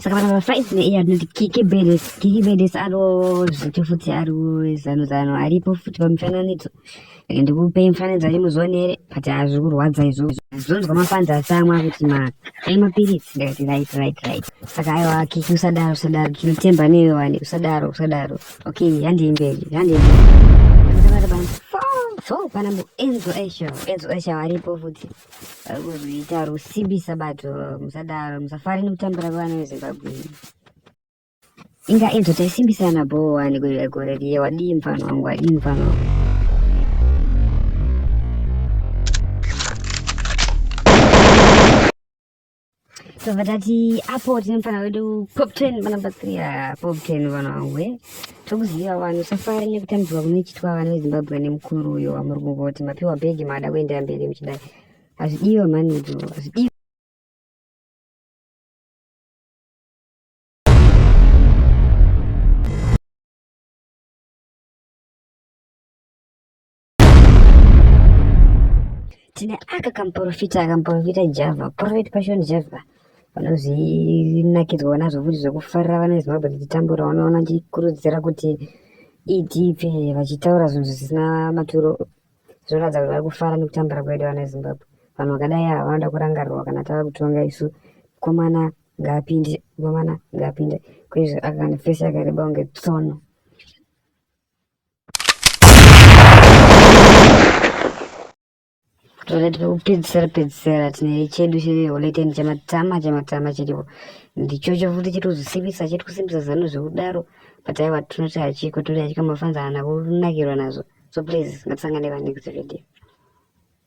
saka vanhu vafaizi neiye anoti kiki bedes kiki bedes ariwo zviti futi ariwo zano zano aripo futi pamifananidzo like ndikupe mifananidzo ari muzonere but hazvi kurwadza izvo zvonzwa mafanzi asi amwe akuti maka ai mapiritsi ndikati right right right saka aiwa kiki usadaro usadaro kinotemba newe wani usadaro usadaro Okay, handi mberi, handi mberi. Ndabata bana. So, pana mu Enzo Esha, Enzo Esha varipo futi. Varikuita rusimbi sabato, musadaro, musafari nekutambira vana veZimbabwe. Inga Enzo taisimbisana bho wani kuita gore riye wadii mfana wangu, wadii mfana wangu. so vatati apo tine mfana wedu pop ten vana batsiria pop ten vana wangu e tokuziva vanhu safari nekutambidzwa kunochitwa vana vezimbabwe nemukuru uyo wamuri kungoti mapiwa bhegi maada kuendera mberi muchidai hazvidiwe mhani idzo hazvidiwe tine aka kamuporofita akamuporofita java prophet passion java vanozvinakidzwa nazvo futi zvekufarira vana vezimbabwe tichitambura vanoona chikurudzira kuti edp vachitaura zvinhu zvisina maturo zvinoratidza kuti vari kufara nekutambura kwedu vana vezimbabwe vanhu vakadai ava vanoda kurangarirwa kana tava kutonga isu komana ngaapinde komana ngaapinde kwezvo akane fesi yakareba kunge tsono tole tinokupedzisira pedzisira tine chedu cheoleteni chamatama chamatama chiripo ndichocho futi chiri kuzosimbisa chiri kusimbisa zano zvekudaro but aiwa tinoti hachiko toti hachiko mafanza hana kunakirwa nazvo so please ngatisangane vanekuti vedio